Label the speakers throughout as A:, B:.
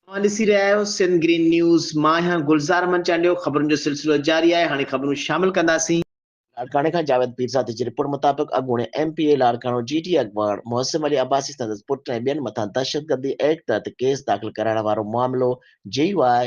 A: اوهان ڏسي رهيا آهيو سنڌ گرين نيوز مان آهيان گلزار احمد چانڊيو خبرن جو سلسلو جاري آهي هاڻي خبرون شامل ڪنداسين. لاڙڪاڻي کان جاويد پيرزادي جي رپورٽ مطابق اڳوڻي M P A Larkana G D اڳواڻ محسن علي عباسي سندس پٽ ۽ ٻين مٿان دهشتگردي ايڪٽ تحت ڪيس داخل ڪرائڻ وارو معاملو J U I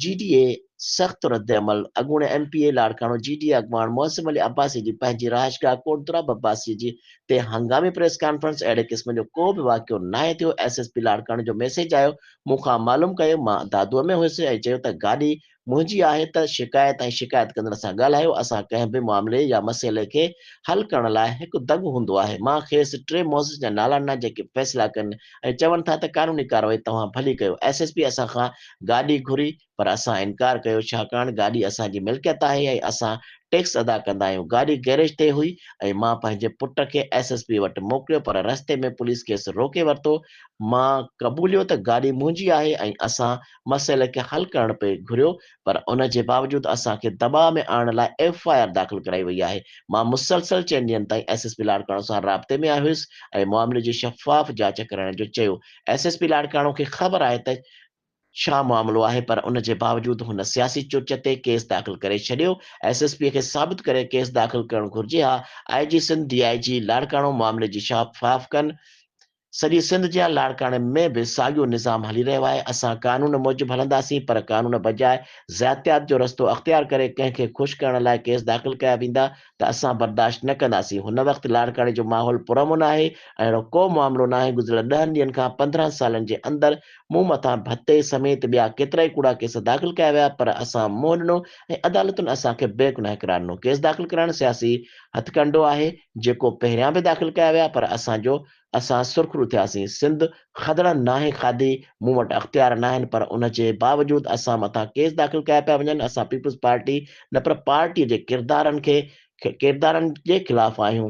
A: G D A سخت ردعمل، اڳوڻي M P A Larkana G D A اڳواڻ معصوم علي عباسي جي پنهنجي رهائشگاهه ڪوٽ دراب عباسي جي تي هنگامي پريس ڪانفرنس، اهڙي قسم جو ڪو به واقعو ناهي ٿيو، ايس ايس پي لاڙڪاڻي جو ميسيج آيو، مون کان معلوم ڪيو، مان دادوء ۾ هيس ۽ چيو ته گاڏي منهنجي آهي ته شڪايت ۽ شڪايت ڪندڙ سان ڳالهايو، اسان ڪنهن به معاملي يا مسئلي کي حل ڪرڻ لاء هڪ دڳ هوندو آهي، مان کيس ٽي معزز جا نالا ڏنا جيڪي فيصلا ڪن، ۽ چون ٿا ته قانوني ڪارروائي توهان ڀلي ڪيو، ايس ايس پي اسان کان گاڏي گهري پر اسان انڪار ڪيو ڇاڪاڻ گاڏي اسان جي ملڪيت آهي ۽ اسان ٽيڪس ادا ڪندا آهيون، گاڏي گئريج تي هئي ۽ مان پنهنجي پٽ کي ايس ايس پي وٽ موڪليو پر رستي ۾ پوليس کيس روڪي ورتو، مان قبوليو ته گاڏي منهنجي آهي ۽ اسان مسئلي کي حل ڪرڻ پئي گهريو پر ان جي باوجود اسان کي دٻاء ۾ آڻڻ لاء ايف آء آر داخل ڪرائي وئي آهي، مان مسلسل چئن ڏينهن تائين ايس ايس پي لاڙڪاڻو سان رابطي ۾ آيو هيس ۽ معاملي جي شفاف جاچ ڪرائڻ جو چيو، ايس ايس پي لاڙڪاڻو کي خبر آهي ته ڇا معاملو آهي پر ان جي باوجود هن سياسي چرچ تي ڪيس داخل ڪري ڇڏيو، ايس ايس پي کي ثابت ڪري ڪيس داخل ڪرڻ گهرجي ها، آء جي سنڌ ڊي آء جي لاڙڪاڻو معاملي جي شفاف ڪن، سڄي سنڌ جيان لاڙڪاڻي ۾ به ساڳيو نظام هلي رهيو آهي، اسان قانون موجب هلنداسين پر قانون بجاء زياتيات جو رستو اختيار ڪري ڪنهن کي خوش ڪرڻ لاء ڪيس داخل ڪيا ويندا ته اسان برداشت نه ڪنداسين، هن وقت لاڙڪاڻي جو ماحول پرامن آهي ۽ اهڙو ڪو معاملو ناهي، گذريل ڏهن ڏينهن کان پندرهن سالن جي اندر مون مٿان ڀتي سميت ٻيا ڪيترائي ڪوڙا ڪيس داخل ڪيا ويا پر اسان منهن ڏنو ۽ عدالتن اسان کي بيگناهه قرار ڏنو، ڪيس داخل ڪرائڻ سياسي هٿڪنڊو آهي، جيڪو پهريان به داخل ڪيا ويا پر اسان جو اسان سرخرو ٿياسين سنڌ خدڙن ناهي کاڌي مون وٽ اختيار ناهن پر ان جي باوجود اسان مٿان ڪيس داخل ڪيا پيا وڃن اسان پيپلز پارٽي نه پر پارٽي جي ڪردارن کي ڪردارن جي خلاف آهيون.